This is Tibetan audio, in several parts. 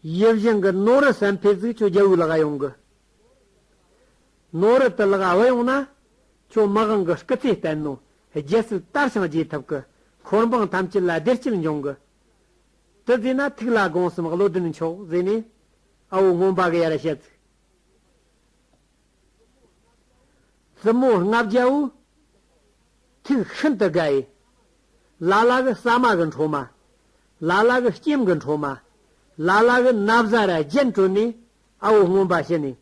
ཡིད་བཞིན་གྱི་ནོར་བུ་སེམས་དཔའི་གཟུགས་ཁྱོད་རྒྱལ་བོའི་ལག་གཡང་གི་ནོར་བུ་དུ་ལག་བུ་ཡོང་ན། ཁྱོད་དམག་དབང་གི་སྐུ་ཚེ་བརྟན་ནོ། རྒྱལ་སྲིད་དར་ཞིང་རྒྱས་ཐུབ་ཀྱི། འཁོར་འབངས་ཐམས་ཅད་ལ་བདེ་སྐྱིད་འབྱུང་གི། དུ་བཟོས་ན་ཐུགས་ལ་དགོངས་སམ་བློ་ལྡན་མཆོག་བཟོས་ནས། ཨ་བོ་སྔོན་པ་གི་ཡར་ཞལ་ཚིག། གསུམ་མོ་ལྔ་བརྒྱ་བོ། ཐིག་ཤིན་ཏུ་དགའི། ལ་ལ་གི་ཟ་མ་གི་འཕྲོ་མ། ལ་ལ་གི་སྐྱེམས་གི་འཕྲོ་མ། ལ་ལ་གི་སྣབས་བཟའ་ར་རྒྱན་དྲོད་ནས་ཨ་བོ་སྔོན་པ་ཤི་ནས།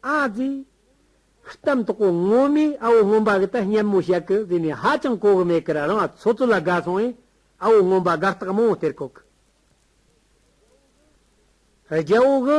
ཨ་ཙི། གཏམ་དོག་པོ་ངོ་མས་ཨ་བོ་སྔོན་པ་གི་ད་སྙམ་མོ་བཤད་གི་བཟས་ནས་ཧ་ཅང་གོ་གི་མེད་ཀིར་རང་ཚོ་ཚོ་ལ་དགའ་སོང་ཨེ་ཨ་བོ་སྔོན་པ་དགའ་རྟགས་མང་བོ་སྟེར་གོ་གི་རྒྱའོ་གི།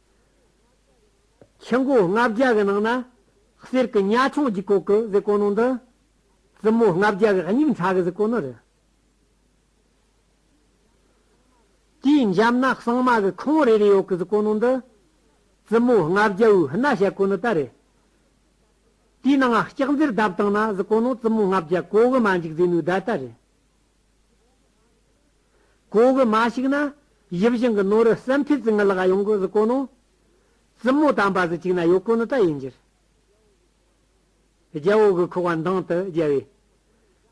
ཕྱི་མགོ་ལྔ་བརྒྱ་གི་ནང་ན་གསེར་གྱི་གཉའ་ཆུང་གྱི་གོག་གི་གཟིགས་གོ་ནོ་འདི། རྩི་མོ་ལྔ་བརྒྱ་གི་སྙིང་ཚ་གི་གཟིགས་གོ་ནོ་རེད། དེའི་འཇབ་ན་གསང་མ་གི་ཁོང་རེ་རེ་ཡོག་གི་གཟིགས་གོ་ནོ་འདི། རྩི་མོ་ལྔ་བརྒྱ་བོའི་སྣ་བཤད་གོ་ནོ་ད་རེད། དེའི་ནང་ལྕགས་མཛེར་བརྡབ་བཏང་ན་གཟིགས་གོ་ནོ་རྩི་མོ་ལྔ་བརྒྱ་གོག་གི་མ་འཇིག་ཟེ་ནོའི་བརྡ་ད་རེད། གོང་གི་མ་ཞིག་ན། ཡིབ་བཞིན་གྱི་ནོར་རི་སེམས་ཐིག་ཙི་ངི་ལ་ག་ཡོང་གི་གཟི་ཀོ་ནོ། བཙུན་མོ་དམ་པ་ཟི་ཅིག་ན་ཡོ་ཀོ་ནི་ད་ཡིན་འགྱུར། རྒྱལ་བོ་གི་ཁུ་བ་མདང་དུ་རྒྱལ་བས།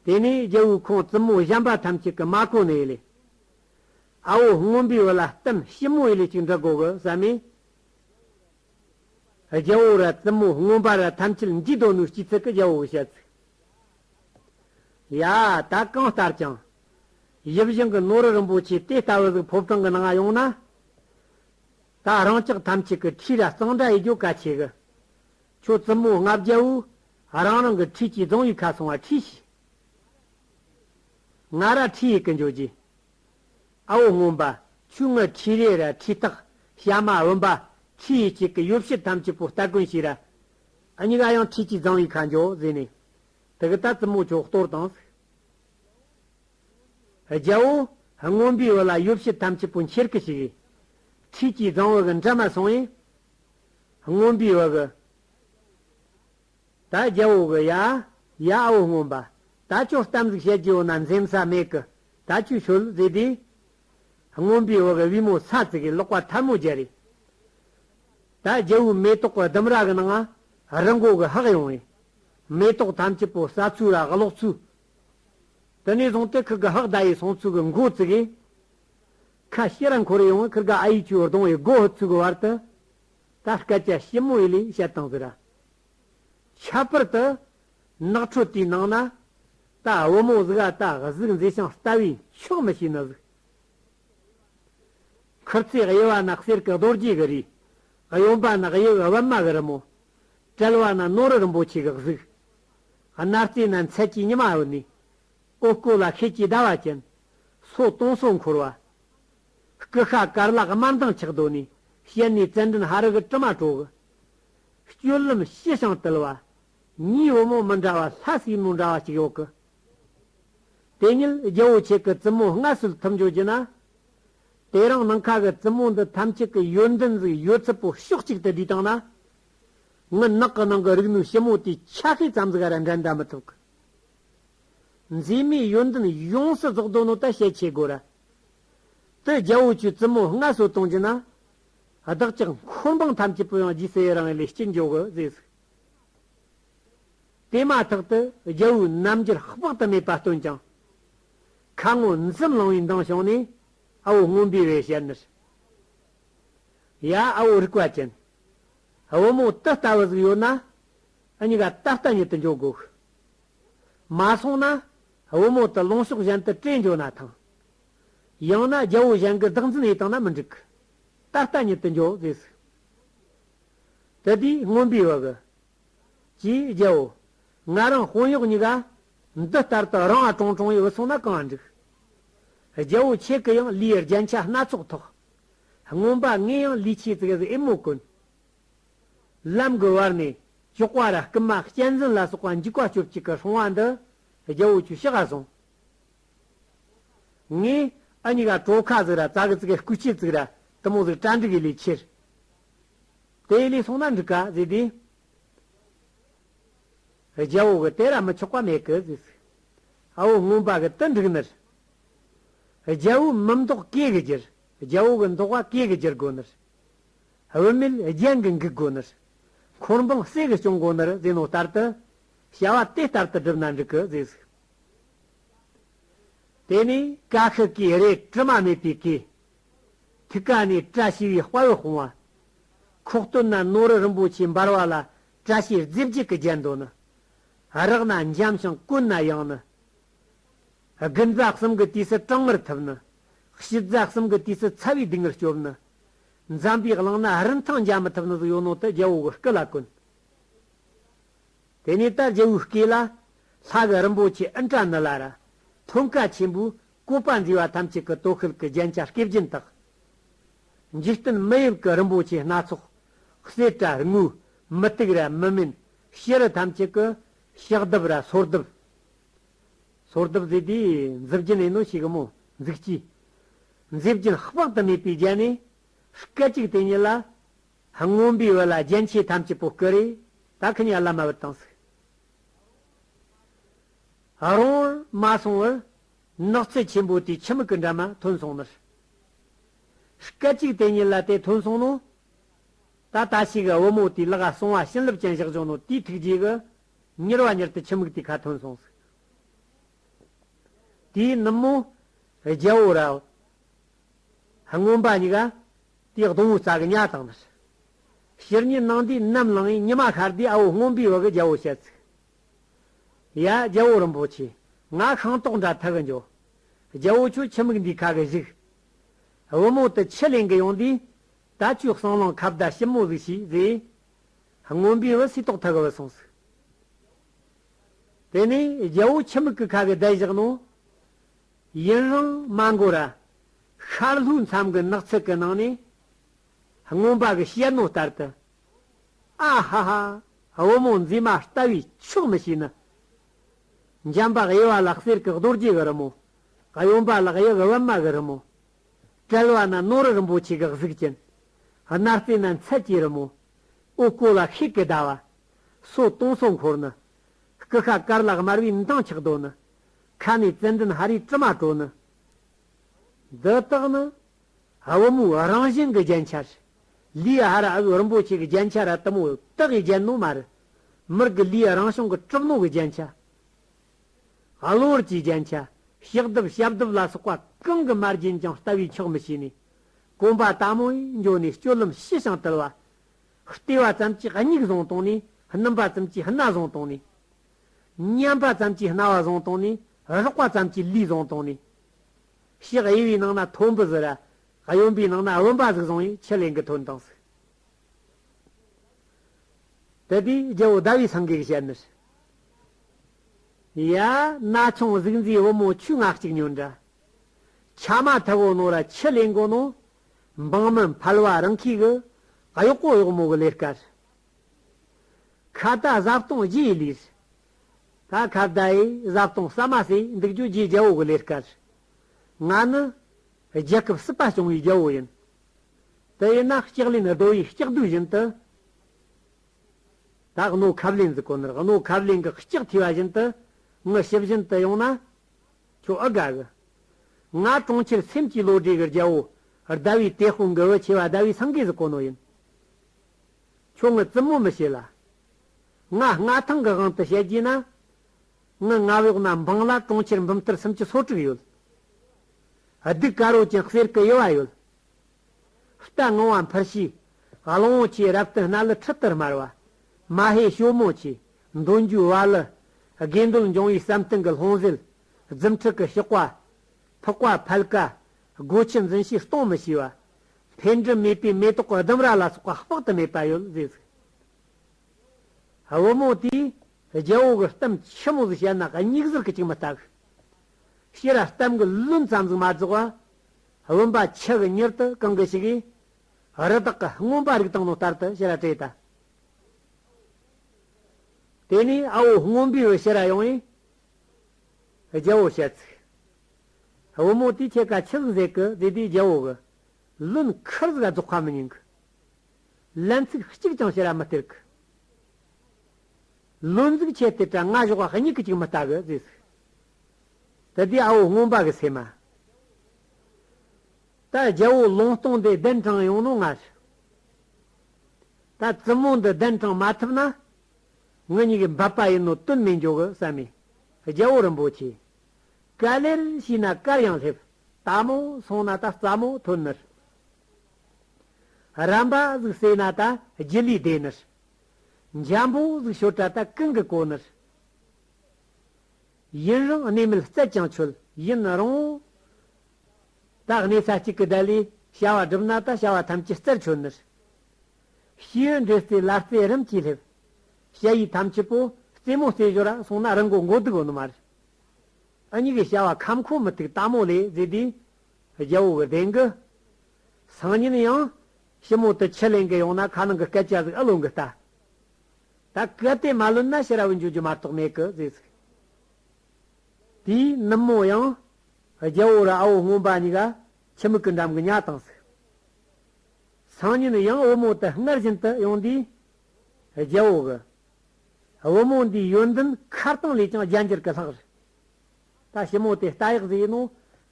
དེ་ནས་རྒྱལ་བོའི་ཁོང་བཙུན་མོ་བཞམས་པ་ཐམས་ཅད་ཀྱི་མ་ཀོ་ནི་ཡི་ལེ། ཨ་བོ་སྔོན་པོའི་བུ་ལ་བསྟིམ་ཞིབ་མོ་ཡི་ལེ་ཅིག་འདྲི་དགོས་གི་ཟ་མས། རྒྱལ་བོ་ར་བཙུན་མོ་སྔོན་པ་ར་ཐམས་ཅད་འཇིག་དོ་ནུས་སྐྱིད་ཚིག་གི་རྒྱལ་བོ་གི་བཤད་ཚིག། ཡ། ད་གང་ལྟར་ཀྱང། ཡིད་བཞིན་གྱི་ནོར་རིན་པོ་ཆེ་དེ་ལྟ་བུ་ཟིག་ཕོབ་སྟངས་ཀྱི་ནང་ཡོང་ན། ད་རང་ཅག་ཐམས་ཅད་ཀྱི་འཁྲིས་ར་གཙང་སྦྲ་ཡི་རྒྱུ་ག་ཆེ་གི། ཁྱོད་བཙུན་མོ་ལྔ་བརྒྱ་བོའི་རང་རང་གི་འཁྲིས་ཀྱི་རྫོང་ཡིག་ཁ་སོང་བ་ཁྲིས་ཤིག། ང་ར་ཁྲིས་ཡི་གི་འཇོག་རྒྱུ། ཨ་བོ་སྔོན་པ་ཆུ་ངུ་ཁྲིས་རེ་ར་ཁྲིས་སྟག་ཤ་མ་བུན་པ་ཁྲིས་ཡི་གཅིག་གི་ཡོ་བྱད་ཐམས་ཅད་པོ་སྟ་གོན་ཞིག་ར་གཉིས་ཀ་ཡང་ཁྱེད་ཀྱིས་བཟང་བའི་ཁ་འཇོག་བཟོས་ནས། དེ་གི་ད་རྩི་མོ་ཅོག་གཏོར་དང། རྒྱལ་བོ། རྔོན་པའི་བུ་ལ་ཡོ་བྱད་ཐམས་ཅད་པོ་འཁྱེར་གི་ཞིག། ཁྱེད་ཀྱིས་བཟང་བ་གི་འདྲ་མ་སོང་ཡིན། རྔོན་པའི་བུ་གི། ད་རྒྱལ་བོ་གི་ཡ། ཡ་ཨ་བོ་རྔོན་པ། ད་ཅོག་གཏམ་གཟིགས་བཤད་རྒྱུ་ཡོད་ན་འཛེམ་ས་མེད་གི། ད་ཁྱོད་ཤོད། ཟེར་དུས། རྔོན་པའི་འོག་གི་དབུས་མོ་ས་བརྩིགས་ཀྱི་ལོགས་པ་ཐལ་མོ་རྒྱལ་རིགས། ད་རྒྱལ་བུའི་མེ་ཏོག་གི་ལྡུམ་ར་གི་ནང་ང་རི་མགོ་གི་ཧག་ཡོང་བས། མེ་ཏོག་ཐམས་ཅད་པོ་ས་ཚུགས་ར་གློག་ཚུགས། དེ་ནས་བཟུང་སྟེ་ཁི་གི་ཧག་ཟླ་ཡི་སོང་ཚུགས་གི་མགོ་བརྩིགས་ཡས། ཁ་ཤི་ར་འཁོར་ཡོང་བས་ཁི་ག་ཨ་ཡིག་ཆུའི་ལྡོང་ཡི་མགོ་ཧི་ཚུགས་གི་བར་དུ། ད་སྐད་ཆ་ཞིབ་མོ་ཡི་ལས་བཤད་དང་ཟེར་ར། ཁྱད་པར་དུ། ནགས་ཁྲོད་དེའི་ནང་ན། རྟ་བུ་མོ་གཟིག་ཨ་རྟ་གཟིག་མཛེས་ཤིང་རྟ་བའི་མཆོག་མི་ཤེས་ན་གཟིག། མཁུར་ཚོས་དབྱེ་བ་ན་གསེར་གྱི་རྡོ་རྗེ་གི་རིགས། གཡོན་པ་ན་དབྱེ་བའི་བི་མ་གི་རི་མོ། དཔྲལ་བ་ན་ནོར་རིན་པོ་ཆེ་གི་གཟིག། སྣ་རྩེ་ན་མཚལ་གྱི་ཉི་མ་འོད་ནི། ཨོ་སྐོལ་ལ་ཤེལ་གྱི་ཟླ་བ་ཅན། སོ་སྟོང་སོ་འཁོར་བ། སྐུ་ཤ་དཀར་ལག་དམར་མདངས་ཆགས་གདོད་ནས་ཞལ་ནས་ཙན་དྲན་ཧ་རི་གི་དྲི་མ་གྲོགས། སྤྱོད་ལམ་ཤེས་ཤིང་དལ་བ་གཉིས་བུ་མོ་མི་འདྲ་བ་ལྷ་སྲས་མོ་འདྲ་བ་གཅིག་ཡོད་གི། དེ་ཉིད་རྒྱལ་བོ་ཆེ་གི་བཙུན་མོ་ལྔ་སུལ་ཐུབ་འབྱོར་གྱི་ན། དེ་རིང་ནིང་ཁ་གི་བཙུན་མོ་འདི་ཐམས་ཅད་ཀྱི་ཡོན་ཏན་གཟུགས་ཡོད་ཚད་པོ་ཕྱོགས་གཅིག་ཏུ་བསྡུས་དང་ན། ངི་ནག་གི་ནང་གི་རིག་ནུས་ཞིབ་མོ་དེའི་ཆ་ཤས་ཙམ་ཟིག་ར་འགྲན་ད་མི་ཐུབ་གི། མཛེས་མའི་ཡོན་ཏན་ཡོངས་སུ་རྫོགས་དོ་ནོ་ད་བཤད་ཆེ་དགོས་ར། དེ་རྒྱལ་བོ་ཆེའི་བཙུན་མོ་ལྔ་སུལ་གཏོང་གྱི་ན། བདག་ཅག་འཁོར་འབངས་ཐམས་ཅད་པོ་ཡང་རྗེས་སུ་ཡི་རང་ཡི་ལས་སྐྱེ་འཇོག་གི་ཟེར་ཟིག། དེ་མ་ཐག་ཏུ་རྒྱལ་བོའི་རྣམ་འགྱུར་དཔག་ཏུ་མེད་པ་སྟོན་ཀྱང། ཁ་ངོ་འཛུམ་བླང་བའི་མདངས་བྱུང་ནས་ཨ་བོ་སྔོན་པོའི་རེ་ཞལ་ནུར། ཡ་ཨ་བོ་རིག་པ་ཅན། བུ་མོ་དེ་ལྟ་བུ་ཟིག་ཡོད་ན། གཉིས་ཀ་ད་ལྟ་ཉིད་དུ་འཇོག་དགོས། མ་སོང་ན་བུ་མོ་དེ་ལོངས་ཕྱོགས་གཞན་དུ་བཀྲེས་འགྱོ་ན་ཐང། ཡང་ན་རྒྱལ་བོ་གཞན་གྱི་བདག་འཛིན་ཨེ་བཏང་ན་མི་འགྲིག་གི། ད་ལྟ་ཉིད་དུ་འཇོག་ཟེར་ཟིག། ད་ལྟའི་རྔོན་པའི་བག། ཅེས་བརྒྱའོ། ང་རང་དཔོན་གཡོག་གཉིས་ཀ། འདི་ལྟར་དུ་རང་ཨ་ཀྲོང་ཀྲོང་ཡི་འུ་ཚང་ན་གང་འགྲིག། བརྒྱའོ་ཁྱེད་ཀྱི་ཡང་ལུས་རྒྱན་ཆ་སྣ་ཚོགས་ཐོགས། རྔོན་པ་ངའི་ཡང་ལུས་ཆེ་ཙིག་གཟིག་ཨེ་མོ་ཀུན། ལམ་གྱི་བར་ནས་ཅོག་བ་ར་སྐུ་མ་གཅན་གཟན་ལ་སོགས་པ་འཇིགས་པ་སྐྱོབ་ཅིག་གི་ཧྲོང་བ་འདི་བརྒྱའོ་ཁྱོད་ཤི་ག་སོང། ངས་ཨ་མྱེས་ཀ་གྲོ་ཁ་བཟོས་ར་རྩྭ་གི་རྩི་ག་སྐུད་ཆས་བཙུགས་ར་དུ་མོ་ཟིག་སྐྲ་འབྲི་གི་ལས་ཁྱེར། དེའི་ལས་སོང་ན་འབྲི་ག་ཟེར་དུས། རྒྱལ་བོ་གི་དེ་ར་མི་ཆོག་པ་མེད་གི་ཟིག། ཨ་བོ་རྔོན་པ་གི་དུ་འགྲིག་ནི། རྒྱལ་བོའི་མི་མདོག་གེ་གི་གྱུར་རྒྱལ་བོ་གི་མདོག་བ་གེ་གི་གྱུར་དགོས་ནི། བུད་མེད་རྒྱན་གི་འགུག་དགོས་ནི། འཁོར་འབངས་བསད་གི་སྐྱོང་དགོས་ནི་ཟེར་ནོ་ལྟར་དུ། བྱ་བ་དེ་ལྟར་དུ་བསྒྲུབ་ན་འགྲིག་གི་ཟིག། དེ་ནས་བཀའ་ཤག་གིས་རས་དྲི་མ་མེད་པའི་གེ། ཐིག་ཀ་ནས་བཀྲ་ཤིས་པའི་དཔའ་བོས་སྤུངས་བ། ཁོག་སྟོད་ན་ནོར་རི་རིན་པོ་ཆེ་འབར་བ་ལ་བཀྲ་ཤིས་རྫས་བརྒྱད་ཀྱི་རྒྱལ་མདོ་ནི། རག་ན་འཇམ་ཞིང་དཀོན་ན་ཡང་ནི། དགུན་རྫ་གསུམ་གྱི་དུས་སུ་གྲང་ངར་ཐུབ་ནི། ཕྱི་རྫ་གསུམ་གྱི་དུས་སུ་ཚ་བའི་སྡུག་བསྔལ་སྐྱོབ་ནི། འཇམ་པའི་གླིང་ན་རིན་ཐང་འཇལ་མི་ཐུབ་ནི་གཟུགས་ཡོད་ནོར་དུ་རྒྱལ་པོ་གི་སྐུ་ལ་བཀོད། དེ་ནས་ད་རྒྱལ་བོའི་སྐེ་ལ། ལྷ་གི་རིན་པོ་ཆེ་ཨི་འདྲ་ནི་ལ་ར། མཐོན་དཀའ་ཆེན་པོའི་བཀོད་པ་མཛེས་པ་ཐམས་ཅད་ཀྱི་སྟོད་ཁུལ་གྱི་རྒྱན་ཆ་སྐེ་བརྒྱན་དག། འཇིག་རྟེན་མི་དབྱིབས་ཀྱི་རིན་པོ་ཆེ་སྣ་ཚོགས། བསེ་བྲ་རྔུ། མི་སྟུག་ར་མི་སྨིན། བྱི་རུ་ཐམས་ཅད་ཀྱི། ཞག་བདུབ་ར་སོར་བདུབ། སོར་བདུབ་བཟོས་ཏེ། མཛེས་བརྒྱན་ཨེ་ནོ་ཞེས་གི་མོ་འཛུགས་ཀྱིས། མཛེས་བརྒྱན་དཔག་ཏུ་མེད་པའི་རྒྱན་ནི། སྐད་ཅིག་དེ་ཉིད་ལ། སྔོན་པོའི་འོད་ལ་རྒྱན་ཆས་ཐམས་ཅད་པོ་བསྐུལ་རེ། ད་ཁི་ནས་བླ་མ་འོད་དང་གཟུགས། རོང་བོར་མ་སོང་བར། ནགས་ཚལ་ཆེན་པོ་དེའི་ཁྱི་མི་ཀི་འདྲ་མ་ཐོན་སོང་མོད། སྐད་གཅིག་དེ་ཉིད་ལ་དེ་ཐོན་སོང་ནོ། ད་ལྟ་ཞིག་བུ་མོ་དེའི་ལག་ག་སོང་བ་བྱིན་རླབས་ཅན་བཞག་བྱུང་ནོ་དེའི་ཐུགས་རྗེས་གི། ཉེར་བ་ཉེར་དུ་ཁྱི་མིག་དེའི་ཁ་ཐོན་སོང་གཟུགས། དེའི་ནུབ་མོ། རྒྱལ་བོ་རལ། མངོན་པ་ཉིད་ཀྱི་དེའི་སྡོང་བུའི་རྩ་གི་གཉའ་དང་ནི། ཕྱིར་ཉིད་སྣང་དུས་ནམ་བླང་ཡིན་ཉི་མ་ཤར་དུས་ཨ་བོ་སྔོན་པོའི་འོག་གི་རྒྱལ་པོ་བཤད་ཚིག། ཡ། རྒྱལ་པོ་རིན་པོ་ཆེ། ང་ཤིང་ཏོག་འདྲ་ཐག་གི་འཇོ། རྒྱལ་པོ་ཁྱོད་ཁྱི་མིག་འདིའི་ཁ་གི་གཞུག། བུ་མོ་དེ་ཁྱི་ལེན་གི་ཡོང་དུས། ད་ཁྱོའི་གསང་ལམ་ཁ་བརྡ་ཞིབ་མོ་གཟིགས་ཞེས་རྫས། སྔོན་པོའི་བུ་སྲིད་ཏོག་ཐག་གི་བུ་སོང་ཟིག། དེ་ནས་རྒྱལ་པོ་ཁྱི་མིག་གི་ཁ་གི་བརྡ་བཞག་ནོ། ཡུན་རིང་མ་འགོར་ར། ཤར་ལྷོའི་མཚམས་ཀྱི་ནགས་ཚལ་གྱི་ནང་ནས། རྔོན་པ་གྱི་གཤེད་མོ་ལྟར་དུ། ཨ་ཧ་ཧ། བུ་མོ་མཛེས་མ་ལྟ་བུའི་ཕྱོགས་མི་ཤེས་ནི། འཇམ་པ་དབྱེ་བ་ལག་གསེར་གྱི་རྡོ་རྗེ་གི་རི་མོ། གཡོན་པ་ལག་གཡས་གི་བི་མ་གི་རི་མོ། དྲིལ་བ་ན་ནོར་རིན་པོ་ཆེ་གི་གཟུགས་ཅན། སྣ་རྩེ་ན་མཚལ་གྱི་རི་མོ། དབུ་སྐོལ་ལ་ཤིག་གི་ཟླ་བ། སོ་སྟོང་སོ་འཁོར་ནི། སྐུ་ཁ་དཀར་ལ་དམར་བའི་མདངས་ཆགས་རྡོ་ནི། ཁ་ནས་བཙན་འདྲེན་ཧ་རིའི་དྲི་མ་བྲོ་ནི། འདི་དག་ནི། བུ་མོ་རང་བཞིན་གྱི་རྒྱན་ཆ་རེད། ལིའི་ཧ་ར་ཨི་རིན་པོ་ཆེ་གི་རྒྱན་ཆ་ར་དུ་མོ་དག་གི་རྒྱན་ནོ་མ་རེད། མི་རིགས་ཀྱི་ལིའི་རང་བྱུང་གི་གྲུབ་ནོར་གྱི་རྒྱན་ཆ། གློ་བུར་གྱི་རྒྱན་ཆ། གཤེགས་སྡེབ་ཞབས་སྡེབ་ལ་སོགས་པ་གང་གི་མ་རྒྱན་ཀྱང་ལྟ་བས་ཆོག་མི་ཤེས་ནས། གོམ་པ་དག་མོ་ཡིས་འཇོག་ནས་སྤྱོད་ལམ་ཤི་ཞིང་དལ་བ། ལྟེ་བ་ཙམ་གྱིས་སྙིགས་བཟང་བཏང་ནས་སྣུམ་པ་ཙམ་གྱིས་སྣ་བཟང་བཏང་ནས། མཉམ་པ་ཙམ་གྱིས་རྣ་བ་བཟང་བཏང་ནས་རོགས་པ་ཙམ་གྱིས་ལུས་བཟང་བཏང་ནས། ཕྱིས་གཡེང་བའི་ནང་ན་ཐོམ་བུ་བཟི་ར། གཡོན་པའི་ནང་ན་བུམ་པ་གཟུགས་བཟང་བས་ཕྱི་གླིང་གི་དོན་དང་གཟུགས། དེ་དུས་རྒྱལ་པོ་ཟླ་བའི་སངས་རྒྱས་ཀྱི་ཞལ་ནུར། ཡ། ན་ཆུང་གཟུགས་མཛེས་བུ་མོ་ཆུ་ནག་ཅིག་ཉོན་འདྲ། ཆ་མ་མཐུ་བོ་ནོར་ར་ཕྱི་གླིང་གོ་ནོ། འབངས་མི་ཕལ་བ་རང་ཁའི་གུ། གཡོག་པོ་གཡོག་མོ་གི་ལས་དཀར། ཁ་བརྡ་བཟའ་བཏུང་རྒྱས་ལུས། ད་ཁ་བརྡ་ཡི་བཟའ་བཏུང་ཟ་མ་ཟོས་འདུག་རྒྱུ་རྒྱའི་རྒྱལ་པོ་གི་ལས་སྐལ། ང་ནི་རྒྱལ་ཁབ་སྲིད་པ་སྐྱོང་བའི་རྒྱལ་པོ་ཡིན། དེ་ཡིན་ན་ལྕགས་ལེན་རྡོ་ཡི་ལྕགས་བསྡུས་བཞིན་དུ། ད་རྣོ་ཁབ་ལེན་གྱི་གོ་ནོར་རྣོ་ཁབ་ལེན་གྱི་ལྕགས་ཐོས་པ་བཞིན་དུ་ངུ་ཞིབ་བཞིན་དུ་ཡོང་ན་ཁྱོད་ཨི་དགའ་གི། ང་གྲོང་ཁྱེར་སེམས་ཀྱི་བློ་གྲོས་ཀྱི་རྒྱལ་པོ་ཟླ་བའི་དེ་དཔུང་གི་བུ་ཆེ་བ་ཟླ་བའི་སངས་རྒྱས་གྱི་གོ་ནོར་ཡིན། ཁྱོད་ངའི་བཙུན་མོ་མི་བྱེད་ལ། ང་མངའ་ཐང་གི་དབང་དུ་བྱེད་རྒྱུ་ཡིན་ན། ངའི་མངའ་གཡོག་རྣམས་འབངས་ལ་གྲོང་ཁྱེར་འབུམ་ཐེར་སུམ་ཅུ་སོ་དྲུག་ཡོད། སྡིག་དཀར་བོ་ཅན་གསེར་གྱི་དབྱེ་བ་ཡོད། རྟ་སྔོ་བ་འཕུར་ཤིས། གླང་བོ་ཆེའི་རབ་ཏུ་སྣ་ལུ་ཁྲི་ལྟར་དམར་བ། མ་ཧེའི་ཞོ་མོ་ཆེ། འདོན་རྒྱུའི་བ་ལུ། དགེ་འདུན་འབྱུང་བའི་ཟམ་གཏིང་གི་ལྷུང་བཟེད། རྫུ་འཕྲུལ་གྱི་གཤོག་པ། ཕག་པ་ཕལ་ཀ། སྒོ་ཁྱི་འཛིན་ཤེས་སྟོང་མི་ཤེས་པ། འཕེལ་འགྲིབ་མེད་པའི་མེ་ཏོག་ལྡུམ་ར་ལ་སོགས་པ་དཔག་ཏུ་མེད་པ་ཡོད་ཟེར། བུ་མོ་དེས་རྒྱལ་པོ་གི་གཏམ་ཆི་མོ་ཟིག་བཤད་ན་སྙིགས་ཟིལ་གྱི་ཅིག་མི་བརྟག། ཤི་ར་གཏམ་གྱི་ལུང་ཙམ་ཟིག་མ་རྫོགས་པ། བུམ་པ་ཆི་གི་མྱུར་དུ་གང་གི་ཞིག་གིས། རི་དྭགས་ཀྱི་རྔོན་པ་རིགས་དང་ནོར་ལྟར་དུ་ཤི་ར་བྲེད་ད། དེ་ནས་ཨ་བོ་རྔོན་པའི་བུ་ཤི་ར་ཡོང་བས་རྒྱལ་པོ་བཤད་ཚིག། བུ་མོ་དེའི་ཁྱེད་ཀ་ཆིག་ཟེ་གི་དེ་དེའི་རྒྱལ་བོ་གི། ལུན་ཁིར་ཟ་རྫོགས་ཁ་མི་ཉན་གི། ལན་ཚིག་གཅིག་ཀྱང་བྱེད་ར་མི་སྟེར་གི། ལུན་གཟིག་ཁྱེད་དེ་དྲ་ང་ཞོག་གཉིས་གི་ཅིག་མི་ལྟ་གི་ཟེས། དེ་དེའི་ཨ་བོ་སྔོན་པ་གི་སེ་མ། ད་རྒྱལ་བོ་ལོང་སྟོང་དེ་གདན་དྲངས་ཡོང་ནོ་ང་ཞུ། ད་བཙུན་མོ་འདི་གདན་དྲངས་མ་ཐུབ་ན། ངི་གཉིས་ཀྱི་འབབ་པ་ཡིན་ནོ་དུན་མི་འཇོག་གི་བསམ་མེད་རྒྱལ་བོ་རིན་པོ་ཆེ། ག་ལེར་ཤི་ན་དཀར་ཡང་སླེབས། རྟ་མོ་སོང་ན་ད་རྩ་མོ་ཐོན་ནི། རམ་པ་གཟུགས་སེ་ན་ད་རྒྱུ་ལུས་བདེ་ནི། འཇམ་པོ་གཟུགས་ཤོར་དྲ་ད་གང་གི་གོ་ནི། ཡུན་རིང་གནས་མེད་བཙལ་ཀྱང་ཆོལ། ཡུན་རིང་ད་གནས་ས་གཅིག་གི་ད་ལུས་བྱ་བ་སྒྲུབ་ན་ད་བྱ་བ་ཐམས་ཅད་རྩར་ཆོལ་ནི། ཤི་ཡོད་འདྲེ་རྩེ་ལ་རྩེ་རིམ་གྱིས་སླེབས། བྱ་ཡི་དམ་ཆུ་པོ་རྩེ་མོ་རྩེ་ཞོར་སོང་ན་རི་མགོ་མགོ་སྡུག་ཨོ་ནུ་མ་རི། ཨ་མྱེ་གི་བྱ་བ་ཁམས་ཁོངས་མི་ཐུག་ལྟ་མོ་ལས་མཛད་དེ། རྒྱལ་པོ་བི་དན་གྱི། སང་ཉིན་ཡང། ཞི་མོ་དུ་ཆུ་ལེན་གི་ཡོང་ན་ཁ་ནང་གི་སྐད་ཆ་ཟིག་ཨུ་ལོན་གི་ལྟ། ད་གལ་ཏེ་མ་ལོན་ན་ཕྱི་ར་བུ་འཇུག་རྒྱུ་མ་གཏོགས་མེད་གི་ཟེར་ཟིག། དེས་ནུབ་མོ་ཡང། རྒྱལ་པོ་ར་ཨ་བོ་སྔོན་པ་ཉི་ག་ཁྱི་མིག་གི་འགྲམ་གྱི་གཉའ་དང་ཟིག། སང་ཉིན་ཡང་བུ་མོ་དུ་སྔར་བཞིན་དུ་ཡོང་དུས། རྒྱལ་པོ་གི། བུ་མོ་འདིའི་ཡོན་ཏན་མཁར་གཙང་ལས་ཀྱང་རྒྱ་འགྱུར་གྱི་ལྷག་རེད། ད་ཞི་མོ་དེ་རྟ་ཡག་ཟེར་ཡིན་ནོ།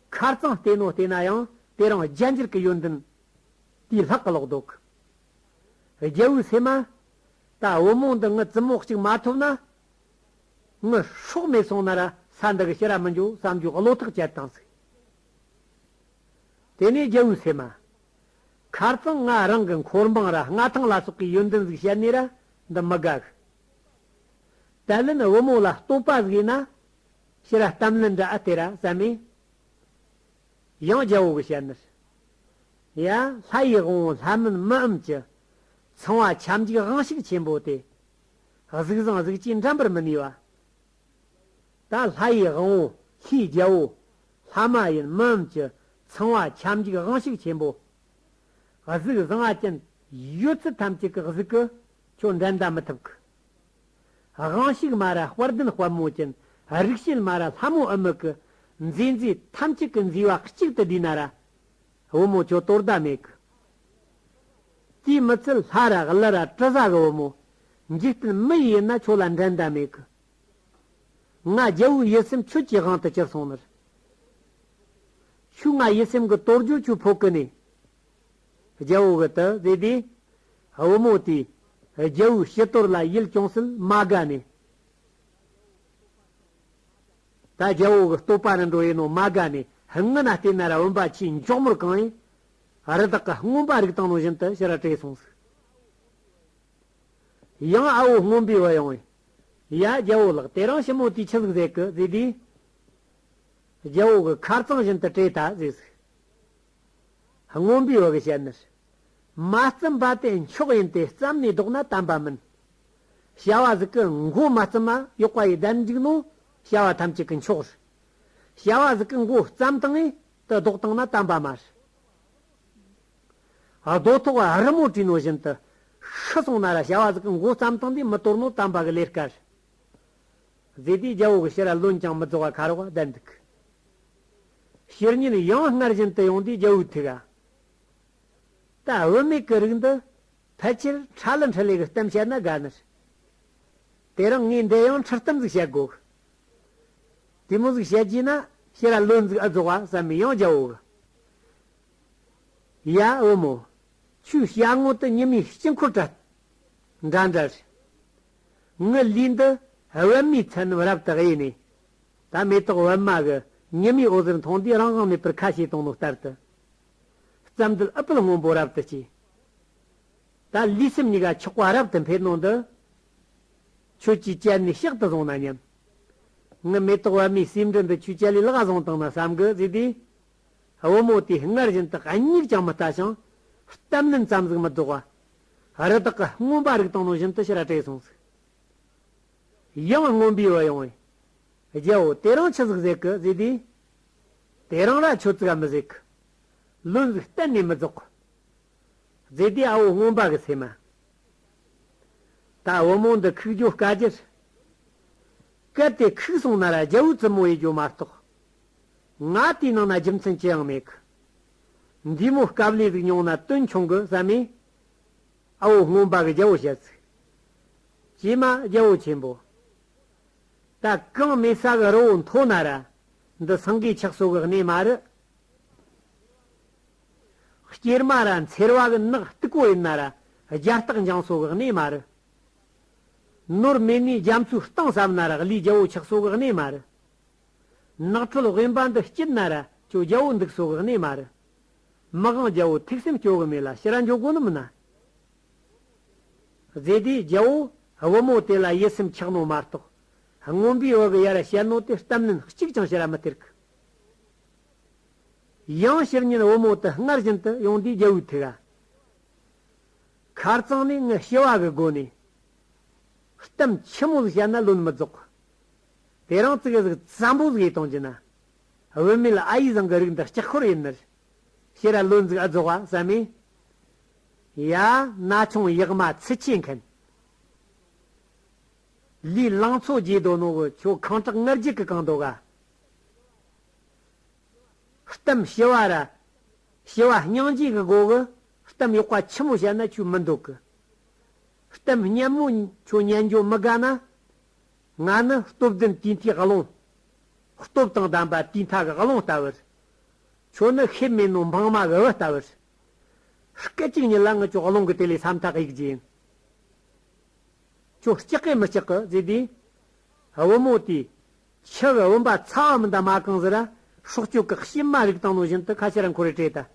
མཁར་གཙང་བལྟས་ནོ་བལྟས་ན་ཡང་དེ་རང་རྒྱ་འགྱུར་གྱི་ཡོན་ཏན་དེའི་ལྷག་གི་ལོག་འདོག་གི། རྒྱལ་བོའི་སྲས་མ། ད་བུ་མོ་འདི་ངའི་བཙུན་མོ་གཅིག་མ་ཐོབ་ན། ངའི་ཧྲོག་མེད་སོང་ན་ར་ས་འདི་གི་ཕྱི་ར་མི་འགྱོ་བསམ་རྒྱུ་བློ་ཐག་བཅད་བཏང་ཟིག། དེ་ནས་རྒྱལ་བོའི་སྲས་མ། མཁར་གཙང་ང་རང་གི་འཁོར་འབངས་ར་མངའ་ཐང་ལ་སོགས་ཀྱི་ཡོན་ཏན་ཟིག་བཤད་ནས་ར་འདི་མི་དགག། བཀའ་ལན་བུ་མོ་ལ་སྟོང་པ་ཟིག་ཡིན་ན། ཕྱི་ར་གཏམ་ལན་འདྲ་ཨ་སྟེ་ར་བསམ་མེད། ཡང་རྒྱལ་བོ་གི་བཤད་ནིར། ཡ། ལྷ་ཡི་དབང་བོ་ལྷ་མིན་མི་འམ་ཅི། ཚང་བ་ཁྱབ་འཇུག་དབང་ཤུགས་ཆེན་པོ་སྟེ། གཟུགས་བཟང་གཟུགས་ཅན་འགྲན་པར་མི་ནུས་པ། ད་ལྷ་ཡི་དབང་བོ་ལྷའི་རྒྱལ་བོ་ལྷ་མ་ཡིན་མི་འམ་ཅི་ཚང་བ་ཁྱབ་འཇུག་དབང་ཤུགས་ཆེན་པོ། གཟུགས་བཟང་ང་ཅན། ཡོད་ཚད་ཐམས་ཅད་ཀྱི་གཟུགས་ཀྱི། ཁྱོད་འགྲན་ཟླ་མི་ཐུབ་ཀྱི། དབང་ཤུགས་མ་ར་དཔལ་ལྡན་དཔལ་མོ་ཅན། རིག་བྱེད་མ་ར་ལྷ་མོ་ཨུ་མི་ཀི། མཛེས་མཛེས་ཐམས་ཅད་ཀྱི་མཛེས་བ་གཅིག་ཏུ་བསྡུས་ན་ར། བུ་མོ་ཁྱོད་དོར་ཟླ་མེད་ཀྱི། དུས་མི་ཚེ་ལྷ་ར་གླུ་ར་དྲི་ཟ་གི་བུ་མོ། འཇིག་རྟེན་མི་ཡིན་ན་ཁྱོད་ལ་འགྲན་ཟླ་མེད་ཀྱི། ང་རྒྱལ་བུ་ཡིད་སེམས་ཆུ་སྐྱེས་དབང་དུ་གྱུར་སོང་མོད། ཆུ་ང་ཡིད་སེམས་ཀྱི་གཏོར་རྒྱུག་ཆུ་ཕོ་ཀུན་ནས་རྒྱལ་བོ་བོད་དུ་བཟོས་དུས། བུ་མོ་དེས་རྒྱལ་བུའི་བྱི་དོར་ལ་ཡིད་ཅུང་ཟད་མ་དགའ་ནས། ད་རྒྱལ་བོ་གི་སྟོད་པ་ནས་འགྲོ་ཡས་ནོ་མ་དགའ་ནས་སྔུན་ན་ལྟས་ན་ར་བོན་པ་ཆུའི་མཆོག་མོར་གང་ཡིན། རི་དྭགས་ཀྱི་རྔོན་པ་རིགས་དང་ནོ་བཞིན་དུ་ཕྱིར་བྲོས་སོང་ཟིག། ཡང་ཨ་བོ་རྔོན་པའི་བུ་ཡོང་ཡས། ཡ། རྒྱལ་བོ་ལགས་དེ་རང་ཞིབ་མོ་དུས་ཆི་ཟིག་ཟེ་གི་ཟིག་དུས། རྒྱལ་བོ་གི་ཁར་གཙང་བཞིན་དུ་བྲེད་ད་ཟིག་ཟིག། རྔོན་པོའི་བ་གི་བཤད་ནི། མ་བརྩིམ་པ་དེ་མཆོག་ཡིན་ཏེ་བརྩམས་ནས་བཟློག་ན་དམ་པ་མིན། བྱ་བ་ཟིག་གི་མགོ་མ་བརྩིམ་མ་གཡོག་པ་ཡི་བདེན་འཇུག་ནོ་བྱ་བ་ཐམས་ཅད་ཀི་མཆོག་རི། བྱ་བ་ཟིག་གི་མགོ་བརྩམས་སྟངས་ཡི་དུ་བཟློག་སྟངས་ན་དམ་པ་མ་རི། རྡོ་ཐོག་རི་མོ་བྲིས་ནོ་བཞིན་དུ། ཤི་སོང་ན་ར་བྱ་བ་གཟུགས་ཀྱི་མགོ་བརྩམས་སྟངས་འདིས་མི་དོར་ནོ་དམ་པ་གི་ལས་དཀར། རྫས་དེའི་རྒྱལ་པོ་གི་ཕྱིར་རློན་ཀྱང་མི་རྫོགས་པ་ཁ་རོག་བསྡད་འདུག་གི། བཤེར་ཉིན་ཡང་སྔར་བཞིན་དུ་ཡོང་དུས་རྒྱལ་པོའི་ཐུགས་ཀ། ད་བུད་མེད་ཀྱི་རིགས་འདི་ཕལ་ཆེར་ཁྲ་ལི་འཁྲི་ལི་གི་གཏམ་བཤད་ན་དགའ་ནི་རེད། དེ་རིང་ངས་འདི་ཡང་ཁྲི་གཏུམ་འཛུགས་བྱེད་དགོས། དེ་སྔོན་གཟུགས་བྱད་ཀྱིས་ན་ཤེས་ར་བློས་འཛུགས་ཨ་རྫོགས་བ་ཟ་མི་ཡང་བྱའོ། ཡ་བུ་མོ། ཆུའི་བྱ་དངོས་དུ་ཉི་མའི་དཀྱིལ་འཁོར་བྲལ། འདྲ་འདྲ་རེ། ངུ་ལུས་འདི་བེམ་མའི་མཚན་རྣམས་རབ་ཏུ་དབྱེ་ནས། ད་མེ་ཏོག་བེམ་མ་གི་ཉི་མའི་འོད་ཟེར་མཐོང་དུས་རང་དབང་མེད་པར་ཁ་བྱེ་དང་ནོར་ལྟར་དུ། རྩ་མདུད་ཨུཏྤལ་སྔོན་པོ་རབ་ཏུ་བསྐྱེད། ད་ལུས་སེམས་གཉིས་ཀ་ཆགས་པ་རབ་ཏུ་འཕེལ་ནོ་འདི། ཁྱོད་ཀྱིས་དཔྱད་ནས་བཤགས་དུ་བཟུང་ན་སྙམ། ངའི་མེ་ཏོག་བ་མོའི་སེམས་དྲན་པའི་ཆུ་ཆ་ལས་བརླག་བཟང་བཏང་ན་བསམ་དགོས་ཟེར་ཏེ། བུ་མོ་དེས་སྔར་བཞིན་དུ་སྙིགས་ཀྱང་མི་ལྟ་ཞིང། གཏམ་ནི་མཚམས་གཟིགས་མི་རྫོགས་པ། རི་དྭགས་ཀྱི་རྔོན་པ་རིགས་དང་ནང་བཞིན་དུ་ཕྱིར་བྲོས་སོང་ཟིག། ཡང་རྔོན་པའི་བུ་ཡང། རྒྱལ་བོ་དེ་རང་ཆུ་ཟིག་བཟེད་གི་ཟེར་ཏེ། དེ་རང་ལ་ཆུ་ཙིག་མི་བཟེད་གི། ལུས་ཟིག་གཏན་ནས་མི་རྫོགས། ཟེར་ཏེ་ཨ་བོ་རྔོན་པ་གི་སེམས་མ། ད་བུ་མོ་འདི་ཁུག་རྒྱོ་དཀའ་རྒྱུར། གལ་ཏེ་ཁུག་སོང་ན་ར་རྒྱལ་བོའི་བཙུན་མོ་ཡིས་རྒྱོ་མ་གཏོགས། ང་དེའི་ནང་ན་རྒྱུ་མཚན་ཅི་ཡང་མེད་གི། འདིས་མོ་སྐབས་ལས་ཟིག་མྱོང་ན་དོན་ཆུང་གི་བསམ་མེད། ཨ་བོ་སྔོན་པ་གི་རྒྱལ་བོ་བཤད་ཚིག། ཀྱེ་མ་རྒྱལ་བོ་ཆེན་པོ། ད་གང་མེད་ས་གི་རི་བོ་མཐོ་ན་ར་འདི་སངས་རྒྱས་ཆགས་སོ་གི་གནས་མ་རི། སྐྱེར་མ་ར་མཚེར་བ་གི་ནག་སྟུག་པོ་ཡི་ན་ར་རྒྱ་སྟག་འཇང་སོགས་གི་གནས་མ་རི། ནོར་སྨད་ནས་རྒྱ་མཚོའི་གཏིང་ཟབ་ན་ར་གླིས་རྒྱ་བོ་ཆགས་སོགས་གི་གནས་མ་རི། ནག་ཁྲོལ་དབེན་པ་འདི་སྐྱིད་ན་ར་ཅོ་རྒྱ་བོ་འདུག་སོགས་གི་གནས་མ་རི། མི་གང་རྒྱ་བོ་ཐུགས་སེམས་སྐྱོ་གི་མེད་ལ་ཕྱི་ར་འཇོག་གོ་ནི་མི་ན། རྫས་དེའི་རྒྱ་བོ་བུ་མོ་དེ་ལ་ཡིད་སེམས་འཁྱག་ནོ་མ་རྟོགས། རྔོན་པའི་བུ་གི་ཡ་ར་བཤད་ནོ་དེ་གཏམ་ནན་གཅིག་ཀྱང་ཕྱི་ར་མི་སྟེར་གི། ཡང་ཕྱིར་ཉིན་བུ་མོ་དེ་སྔར་བཞིན་དུ་ཡོང་དུས་རྒྱལ་བོའི་ཐུགས་ཁར་བཙངས་ནས་ངའི་སྐྱེ་བ་གི་སྒོ་ནས་གཏམ་ཆེན་མོ་ཞིག་བཤད་ན་བློ་མི་རྫོགས། དེ་རིང་ཙིག་གཟུགས་ཙམ་པོ་ཞིག་གཏོང་རྒྱུ་ན། བུད་མེད་ལ་ཨ་ཡིས་བཟང་གི་རིགས་འདི་ལྕགས་འཁོར་ཡིན་ནི། ཤེས་རབ་བློས་འཛུགས་ཨ་རྫོགས་བ་བསམ་མེད། ཡ། ན་ཆུང་ཡག་མ་ཚི་ཆེ་མཁན། ལུས་བླངས་མཚོ་རྒྱས་རྡོ་ནོར་བུ་ཁྱོད་གང་དྲག་ངར་རྒྱུག་གི་གང་འདོད་ག། གཏམ་ཞི་བ་ར། ཞི་བ་སྙིང་རྗེ་གི་སྒོ་གི། གཏམ་གཡོག་པ་ཆེན་མོ་བྱས་ན་ཆོས་མི་འདོད་གི། གཏམ་སྙན་མོ་ཁྱོད་སྙན་འཇོག་མི་དགའ་ན། ང་ནི་སྟོབས་ལྡན་དུས་མཐའི་བློན། སྟོབས་དང་ལྡན་པ་དུས་མཐའ་གི་བློན་ལྟ་བུར། ཁྱོད་ནི་ཤེས་མེད་ནོ་འཕང་མ་གི་བུ་ལྟ་བུར། སྐད་ཅིག་ཉིད་ལ་ངི་ཁྱོད་བློན་གི་དེ་ལས་སམ་ཐག་ཡིག་ཅན། ཁྱོད་སྐྱག་གི་མི་སྐྱག་གི་ཟེར་དུས། བུ་མོ་དེས་ཕྱི་གི་བུམ་པ་ཚ་བ་མི་འདའ་མ་གང་ཟེར་ར། སྲོག་གཅོད་གགས་ཤེད་མ་རིག་དང་ནོ་བཞིན་དུ་ཁ་ཕྱེ་ར་འཁོར་རེ་བྲེད་ད།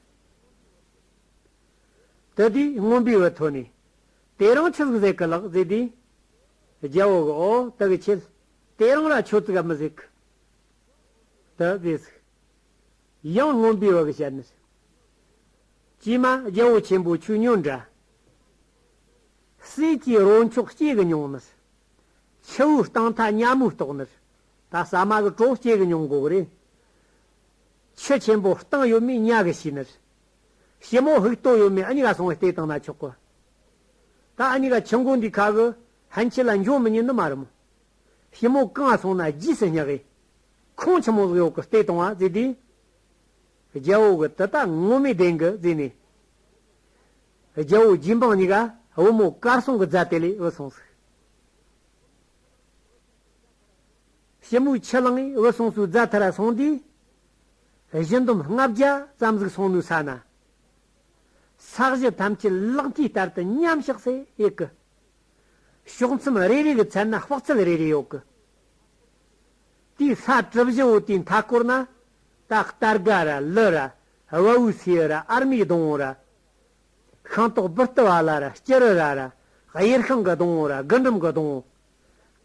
དེ་དུས་རྔོན་པའི་བུ་ཐོས་ནས། དེ་རང་ཆུ་གཟུགས་ཟེགས་གི་ལག་ཟེར་དུས། རྒྱལ་བོ་གི་ཨོ་དི་གི་ཆེད། དེ་རང་ར་ཆོས་ཚིག་ག་མི་ཟེགས། དུ་ཟེ་ཟིག། ཡང་རྔོན་པའི་བུ་གི་བཤད་ནི། ཀྱེ་མ་རྒྱལ་བོ་ཆེན་པོ་ཆུ་སྙོད་འདྲ། སྲས་ཀྱི་རོ་མཆོག་སྐྱེས་གི་མྱོང་ནི། ཆུ་བོའི་གཏིང་མཐའ་མཉམ་མོའི་ལྟོགས་ནི། ད་ཟ་མ་གི་གྲོགས་སྐྱེ་གི་མྱོང་འགོག་རེད། ཆུ་ཆེན་པོའི་གཏིང་ཡོད་མེད་གཉའ་གི་ཤིས་ནི། ཞི་མོ་བྷིག་ཏོ་ཡོད་མེད་ཨ་མྱི་ག་སོང་བས་ལྟས་དང་ན་ཆོག་གོ། ད་ཨ་མྱི་ག་ཆུ་མགོ་འདི་ཁ་གི་ཧན་ཆི་ལ་འབྱོར་མི་ཉན་ནི་མ་རེད་མོ། ཞི་མོ་གང་སོང་ན་རྗེས་སུ་སྙེག་ཨེ། ཁོང་ཆུ་མོ་ལག་གཡོག་གི་ལྟས་དང་བ་རྩེ་དེ། རྒྱལ་བོ་གི་དུ་ད་ངོ་མི་དེང་གི་རྩེ་ནས། རྒྱལ་བོ་རྗེ་འབངས་གཉི་ག་བུ་མོ་དཀར་སྲུང་གི་རྫ་དེ་ལས་འུ་སོང་ཟིག། ཞེ་མོ་ཆེ་ལང་འོད་སོང་སུ་རྫ་དྷ་ར་སོང་དུས། བཞི་འདོམ་ལྔ་བརྒྱ་ཙམ་གཟིགས་སོང་ནུས་ས་ན། ས་གཞི་ཐམས་ཅད་གླགས་མཐིལ་ལྟར་དུ་མཉམ་གཤགས་སའི་ཡི་གི། ཕྱོགས་མཚམས་རེ་རེ་གི་ཚད་ན་དཔག་ཚད་རེ་རེ་ཡོད་གི། དེའི་ས་གྲུ་བཞི་བོ་དེའི་མཐའ་སྐོར་ན། ད་ལྟར་ག་ར་ལི་ར་དབའ་བོའི་སེའུ་ར་ཨར་མའི་སྡོང་བོ་ར། ཤིང་ཏོག་སྦུར་ཏི་བ་ལ་ར་སྐྱི་རི་ར་ར། གཡེར་ཤིང་གི་སྡོང་བོ་ར་རྒུན་འབྲུམ་གི་སྡོང་བོ།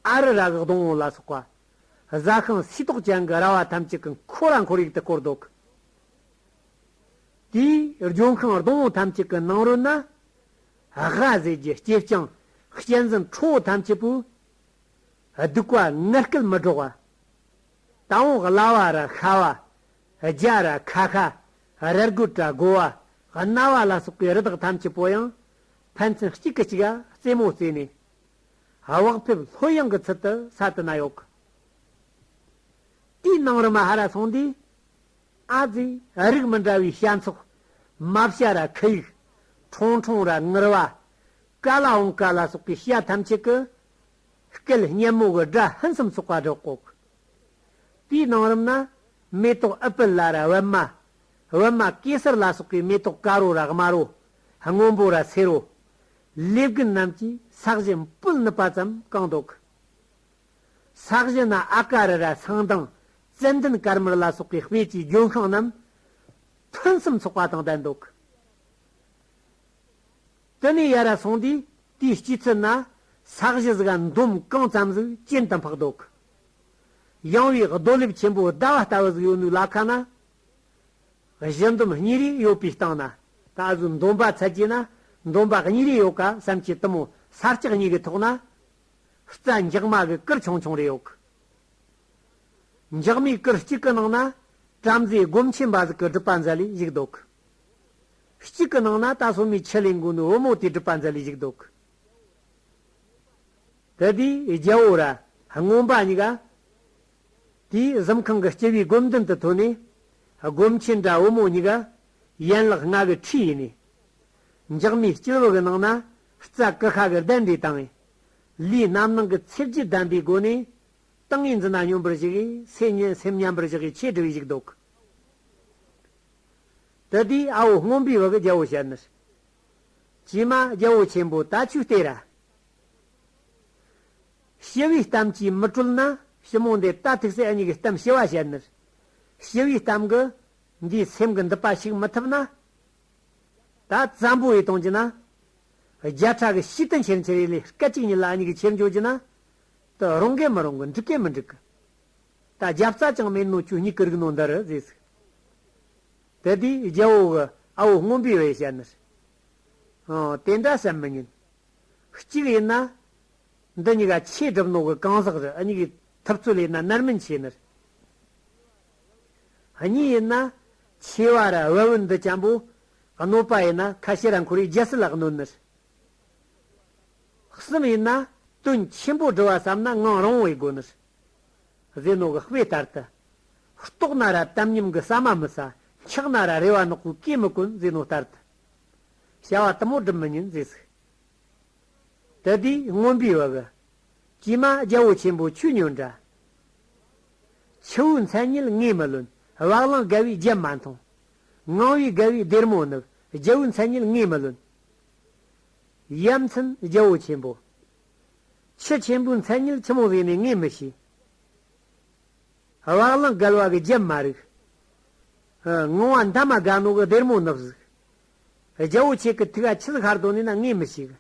ཨ་རི་ར་གི་སྡོང་བོ་ལ་སོགས་པ། བཟའ་ཤིང་སུས་ཏོག་ཅན་གི་ར་བ་ཐམས་ཅད་ཀྱི་འཁོར་ར་འཁོར་ཡུག་ཏུ་བསྐོར་འདོད་གི། དེའི་ལྗོན་ཤིང་སྡོང་བོ་ཐམས་ཅད་ཀྱི་ནང་རོལ་ན། ཧྭ་ཟས་ཀྱི་སྐྱེས་སྤྱང་གཅན་གཟན་ཁྲོ་བོ་ཐམས་ཅད་པོས། སྡུག་བ་ངར་སྐད་མི་སྒྲོག་བ། དང་བོ་གླ་བ་ར་ཤ་བ། རྒྱ་ར་ཁ་ཤ། རལ་གོས་བྲག་མགོ་བ་རྣ་བ་ལ་སོགས་པའི་རི་དྭགས་ཐམས་ཅད་པོ་ཡང་ཕན་ཚུན་གཅིག་གིས་གཅིག་རྩེད་མོ་རྩེས་ནས། བག་ཕེབས་ལྷོད་ཡངས་ཀྱི་ཚུལ་དུ་ས་དེ་ན་གཡོག་གོ། དེའི་ནང་རུ་མ་ཧ་ར་སོང་དུས། ཨ་ཛི་རིགས་མི་འདྲ་བའི་བྱ་མཚོག། མ་བྱ་ར་ཁི་ཡིག། ཁྲོང་ཁྲོང་ར་ངུར་བ། ཀ་ལ་ཨོང་ཀ་ལ་སོགས་པའི་བྱ་ཐམས་ཅད་ཀྱིས། སྐད་སྙན་མོ་གི་སྒྲ་ཧིན་སུམ་སོགས་པ་སྒྲོག་གོ། དེའི་གནང་རིམ་ན། མེ་ཏོག་ཨི་པི་ལ་ར་བི་མ། བི་མ་ཀེ་སར་ལ་སོགས་པའི་མེ་ཏོག་ཀ་རོ་ར་དམར་རོ། སྔོན་པོ་ར་སེར་རོ། ལེ་བརྒན་རྣམས་ཀྱིས་ས་གཞི་སྤུལ་ནུབ་པ་ཙམ་བཀང་འདོགས། ས་གཞི་ན་ཨ་ཀ་རི་ར་ཚང་དང་ཙན་དན་དཀར་མར་ལ་སོགས་པའི་དཔེ་བྱའི་ལྗོན་ཤིང་རྣམས་ཐུན་གསུམ་ཚོགས་པ་དང་ལྡན་འདོགས། དུ་ནས་ཡར་ར་སོང་དུས་དེའི་སྐྱེས་ཚུལ་ན་ས་གཞི་ཟིག་ག་འདོམ་གང་ཙམ་གཟུགས་ཅན་དུ་འཕགས་འདུག། ཡངས་བའི་རྡོ་ལེབ་ཆེན་པོ་ཟླ་བ་ལྟ་བུ་ཟིག་ཡོད་འདུག་ལ་ཁ་ན་གཞི་འདོམ་གཉིས་རེ་ཡོད་པའི་སྟེང་ན་ད་གཟོད་འདོམ་པ་ཚལ་གྱི་ན་འདོམ་པ་གཉིས་རེ་ཡོད་ག་བསམ་གྱི་གཏི་མུག་ས་སྐྱག་གཉིས་ཀྱི་ཐོག་ན་རྩྭ་འགྱག་མ་གི་སྐུར་ཆུང་ཆུང་རེ་ཡོད་གི། འགྱག་མའི་སྐུར་གཅིག་གི་ནང་ན་བྲམ་ཟེའི་སྒོམ་ཆེན་པ་ཟིག་གི་སྒྲུབ་པ་མཛད་ལས་བཞུགས་འདུག་གི། གཅིག་གི་ནང་ན་ད་སོ་མའི་ཆེད་ལས་མགོ་ནི་བུ་མོ་དེ་སྒྲུབ་པ་མཛད་ལས་ཞིག་འདུག་གི་དེ་དེའི་རྒྱལ་པོ་ར་སྔོན་པ་གཉིས་ཀ་དེའི་གཟིམ་ཁང་གི་སྤྱི་བའི་སྒོམ་མདུན་དུ་ཐོན་ནས་སྒོམ་ཆེན་འདྲ་བུ་མོ་གཉིས་ཀ་ཡན་ལག་ལྔ་གི་ཁྲིད་ཡིན་ནས་འཇག་མའི་སྤྱི་བོ་གི་ནང་ན་རྩ་ཀི་ཤ་གི་གདན་འདྲས་དང། ལུས་རྣམ་སྣང་གི་ཚེ་བརྒྱད་ལྡན་པའི་སྒོ་ནས་ཏིང་ངེ་འཛིན་སྙོམས་པར་ཞུགས་ཤིང་སེམས་མཉམ་པར་བཞག་གི་ཆེད་སྒྲུབ་ཡིག་འདུག་དེ་དུས་ཨ་བོ་སྔོན་པོའི་བ་གི་རྒྱལ་པོ་ཞལ་ནུར། བྱེ་མ་རྒྱལ་པོ་ཆེན་པོ་ད་ཆུ་སྟེ་ར། ཞི་བའི་གཏམ་གྱིས་མི་གྲོལ་ན་ཞི་མོ་འདི་ད་ཐུགས་སྲས་གཉིས་ཀྱི་གཏམ་ཞི་བ་ཞལ་ནུར། ཞི་བའི་གཏམ་གི་འདིའི་སེམས་ཀྱི་འདི་པ་ཞིག་མི་ཐུབ་ན། ད་བཙན་པོ་ཡི་དོང་གྱི་ན། བརྒྱ་ཕྲག་གི་ཤིས་དུན་ཆེར་འཁྱེར་ཡི་ལས་སྐད་ཅིག་ཉིད་ལ་གཉིས་ཀྱི་ཁྱེར་འཇོག་གྱི་ན། དུ་རུང་གི་མི་རུང་གི་འགྲིག་གི་མི་འགྲིག་གི། ད་རྒྱབ་རྩ་ཅང་མེད་ནོ་ཁྱོད་གཉིས་ཀི་རིག་ནོ་འདི་རུ་ཟེས་ཟིག། དེ་དུས་རྒྱལ་བོ་གི་ཨ་བོ་སྔོན་པོའི་བས་བྱས་ནི། ཧོན། དེ་འདྲ་བྱེད་མི་ཉན། གཅིག་ཡིན་ན། འདི་གཉིས་ཀ་ཆེས་གྲིབ་ནོག་གི་གང་ཟག་རི་ཨ་གཉིས་ཀི་ཐུབ་ཚོད་ལས་ན་ནར་མིན་ཆེ་ནི། གཉིས་ཡིན་ན། ཆེ་བ་རི་བི་བི་འདི་ཅན་པོ། གནོད་པ་ཡིན་ན་ཁ་ཤེ་ར་འཁོར་བའི་རྒྱལ་སྲིད་ལ་གནོད་ནི། གསུམ་ཡིན་ན། དོན་ཆེན་པོ་བསྒྲུ་བ་བསམ་ན་ངང་རང་བས་དགོས་ནི། ཟས་ནོར་གྱི་དཔེ་ལྟར་དུ། ལྟོགས་ན་ར་དམ་ཉམས་ཀྱི་ཟ་མ་མི་ཟ། འཁྱགས་ན་ར་རེ་བ་ནག་པོའི་སྐས་མི་གོན་ཟས་ནོར་ལྟར་དུ། བྱ་བ་དུ་མོ་སྒྲུབ་མི་ཉན་ཟས་ཟིག། དེ་དུས་རྔོན་པའི་བག། ཀྱེ་མ་རྒྱལ་པོ་ཆེན་པོ་ཆོས་ཉོན་འདྲ། ཆུ་བོའི་མཚན་ཉིད་ངས་མི་ལོན། བག་ལང་དགའ་བའི་རྒྱན་མ་མཐོང། ངང་བའི་དགའ་བའི་སྡེར་མོ་ནུབ། རྒྱལ་པོའི་མཚན་ཉིད་ངས་མི་ལོན། ཡ་མཚན་རྒྱལ་པོ་ཆེན་པོ། ཆུ་ཆེན་པོའི་མཚན་ཉིད་ཆུ་མོ་བས་མི་ངེས་མི་ཤེས། བག་ལང་བསྐལ་བ་གི་རྒྱུན་མ་རིག། ངང་བ་མཐའ་མ་དགའ་ནོག་གི་སྡེར་མོ་ནུབ་གཟུགས། རྒྱལ་བོ་ཆེ་གི་ཐུགས་ཀ་ཆུ་ཤར་དོ་ནས་ན་ངེས་མི་ཤེས།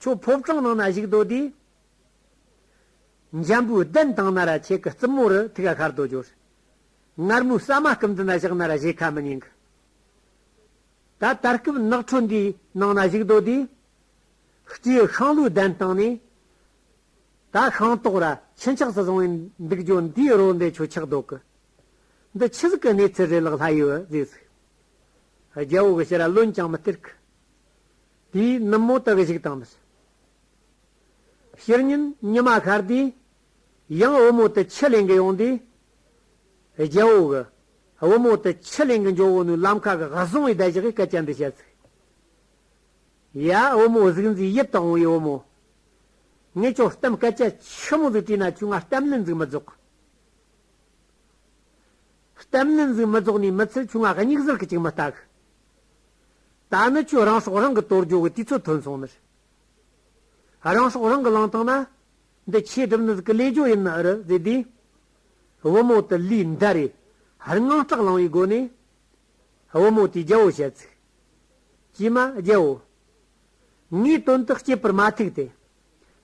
ཁྱོད་ཕོ་བྲང་ནང་ན་བཞུགས་དོ་དུས། འཇམ་པོའི་གདན་དང་ན་ར་ཆེ་གི་རྩིབ་མོ་རུ་ཐུགས་ཀ་ཤར་དོ་གྱུར། ངར་མོའི་ས་མ་སྐུམ་དུ་ན་བཞག་ན་ར་བཞེས་ཁ་མི་ཉན་གི། ད་ལྟར་སྐུབ་ནག་ཁྲོ་འདིའི་ནང་ན་བཞུགས་དོ་དུས། སྐྱེ་ཤིང་ལུས་ལྡན་བཏང་ནས། ད་ཤིང་ཏོག་ར་ཆེན་ཆགས་སུ་བཟུང་བའི་འདུག་རྒྱུ་འདིའི་རོ་འདི་ཆུ་འཁྱགས་ལྡོག་གི། འདི་ཆུ་ཟིག་གི་གནས་ཚུལ་རེད་ལགས་ལྷ་ཡུལ་བ་ཟས་ཟིག། རྒྱལ་བོ་གི་ཕྱིར་ར་ལོན་ཀྱང་མི་སྟེར་གི། དེའི་ནུབ་མོ་དག་གཞིག་དང་མི་སྲིད། ཕྱིར་ཉིན་ཉི་མ་ཤར་དུས། ཡང་བུ་མོ་དེ་ཆུ་ལེན་གི་ཡོང་དུས། རྒྱལ་བོ་གི་བུ་མོ་དེ་ཆུ་ལེན་གི་འཇོག་བོ་ནུའི་ལམ་ཁ་གི་ཧ་སོང་བའི་བརྡ་བཞག་གིས་སྐད་ཆ་འདི་བཤད་ཟིག། ཡ་བུ་མོ་གཟུགས་མཛེས་ཡིད་དུ་འོང་བའི་བུ་མོ། ངས་ཁྱོད་གཏམ་སྐད་ཆ་ཆི་མོ་ཟིག་དྲིས་ན་ཁྱོས་ང་གཏམ་ལས་འཛུགས་མི་རྫོགས། གཏམ་ལས་འཛུགས་མི་རྫོགས་ནས་མི་ཚེ་ཁྱོས་ང་སྙིགས་ཟིལ་གྱི་ཅིག་མི་ལྟ་གི། ད་ནི་ཁྱོས་རང་སྲོག་རང་གིས་དོར་རྒྱུ་གི་དུས་ཚོད་ཐོན་སོང་ནིར། རང་སྲོག་རང་གིས་བླངས་ཐང་ན། འདི་ཆེས་གྲིབ་ནུ་ཟིག་གི་ལས་སྦྱོ་ཡིན་ནི་རུ་ཟེར་དུས། བུ་མོ་དེ་ལུས་འདར་རེ་ཧར་ངང་སྐྲག་ལངས་བའི་སྒོ་ནས། བུ་མོ་དེས་རྒྱལ་པོ་བཤད་ཚིག། ཀྱེ་མ་རྒྱལ་པོ། ངའི་དོན་དུ་སྐྱེས་པར་མ་ཐུག་སྟེ།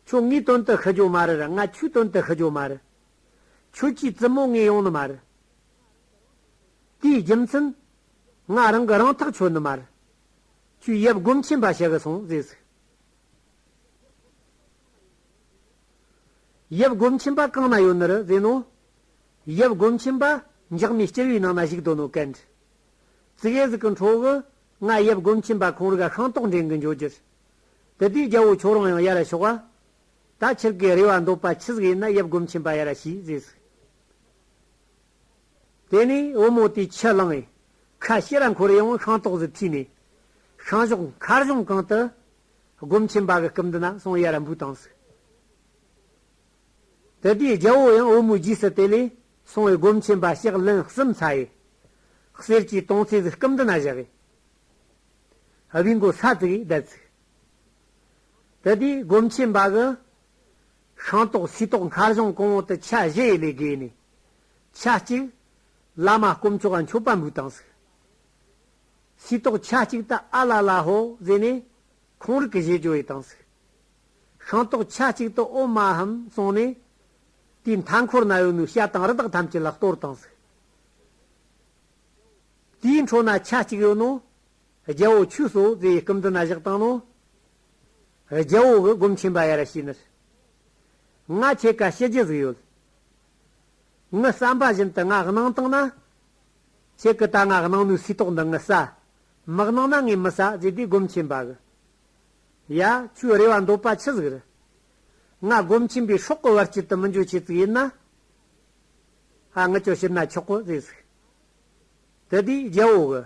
ཁྱོད་ངའི་དོན་དུ་ཤི་འགྱོ་མ་རེར་ང་ཁྱོའི་དོན་དུ་ཤི་འགྱོ་མ་རེ། ཁྱོད་ཀྱིས་བཙུན་མོ་ངའི་ཡོང་ནི་མ་རེ། དེའི་རྒྱུ་མཚན། ང་རང་གི་རང་ཐག་ཆོད་ནི་མ་རེ། ཁྱོས་ཡབ་སྒོམ་ཆེན་པ་ཞིག་སོང་ཟེར་ཟིག། ཡབ་སྒོམ་ཆེན་པ་གང་ན་ཡོད་ནི་རེ་ཟེར་ནོ། ཡབ་སྒོམ་ཆེན་པ་འཇག་མའི་སྐྱེར་བུའི་ནང་ན་བཞུགས་དོ་ནོ་ཀན། ཙི་གེ་ཟིག་གི་འཕྲོ་བུ། ང་ཡབ་སྒོམ་ཆེན་པ་ཁོང་རིག་ཤང་ཏོག་འགྲན་གི་འཇོ་གྱུར། དེ་དུས་རྒྱལ་བོ་ཁྱོ་རང་ཡང་ཡ་ར་ཤོག་བ། ད་ཁྱེར་གི་རེ་བ་འདོད་པ་ཁྱི་ཟིག་ཡིན་ན་ཡབ་སྒོམ་ཆེན་པ་ཡ་ར་ཤིས་བཟས་ཟིག། དེ་ནས་བུ་མོ་དེས་ཁྱི་བླངས་ཡས། ཁ་ཤི་ར་འཁོར་ཡང་བོ་ཤང་ཏོག་ཟིག་ཐུས་ནས། ཤང་ཞོག་མཁར་གཞོང་གང་དུ། སྒོམ་ཆེན་པ་གི་སྐུབ་འདི་ན་སོང་ཡ་ར་འབུད་བཏང་ཟིག། དེ་དུས་རྒྱལ་པོ་ཡང་བུ་མོའི་རྗེས་སུ་དེ་ལས་སོང་བས་སྒོམ་ཆེན་པ་ཞག་ལན་གསུམ་ཚ་ཡི། གསེར་གྱི་དོང་ཚིགས་སུ་སྐུམ་འདི་ན་བཞག་ཡི། བྷི་མགོ་ས་བཙུགས་ཡིས་བརྡལ་བཙུགས། དེ་དུས་སྒོམ་ཆེན་པ་གི། ཤིང་ཏོག་སུའི་ཏོག་མཁར་གཞོང་གོང་འོག་ཏུ་ཆ་བཞི་ཡི་ལས་བརྒལ་ནས། ཆ་གཅིག། བླ་མ་སྐོམ་མཆོག་ཨ་མཆོད་པ་འབུགས་དང་གཟིགས། སུའི་ཏོག་ཆ་གཅིག་ཏུ་ཨ་ལ་ལ་ཧོ་ཟེར་ནས། ཁོང་རིགས་ཀྱི་བཞེད་སྦྱོར་ཡི་དང་གཟིགས། ཤིང་ཏོག་ཆ་གཅིག་ཏུ་ཨོ་མ་ཧམ་གསུངས་ནས། དེའི་མཐའ་འཁོར་ན་ཡོད་མོའི་ཤ་དང་རི་དྭགས་ཐམས་ཅད་ལ་གཏོར་དང་གཟིགས། དེའི་འཕྲོ་ན་ཆ་གཅིག་ཡོད་ནོ། རྒྱལ་པོ་ཁྱོད་སོ་ཛེ་ཡི་སྐུ་འདི་ན་བཞག་དང་ནོ། རྒྱལ་པོ་གི་སྒོམ་ཆེན་པ་ཡ་ར་ཤིས་ནི། ང་ཁྱེད་ག་ཤེད་རྒྱུ་ཟིག་ཡོད། ངི་བསམ་པ་བཞིན་དུ་ང་གནང་དང་ན། ཁྱེད་གི་ད་ང་གནང་མོའི་སུས་ཏོག་འདི་ངི་བསམ། མི་གནང་ན་ངས་མི་བསམ་ཛེ་དེའི་སྒོམ་ཆེན་པ་གི། ཡ། ཁྱོའི་རེ་བ་འདོད་པ་ཆི་ཟིག་རེད། ང་སྒོམ་ཆེན་པོའི་ཤོག་གི་བར་དཀྱིལ་དུ་མི་འཇུག་བྱེད་ཙིག་ཡིན་ན། ཨ་ངི་ཁྱོ་ཤི་ན་ཆོག་གོ་ཟེ་ཟིག། དེ་དུས་རྒྱལ་བོ་གི།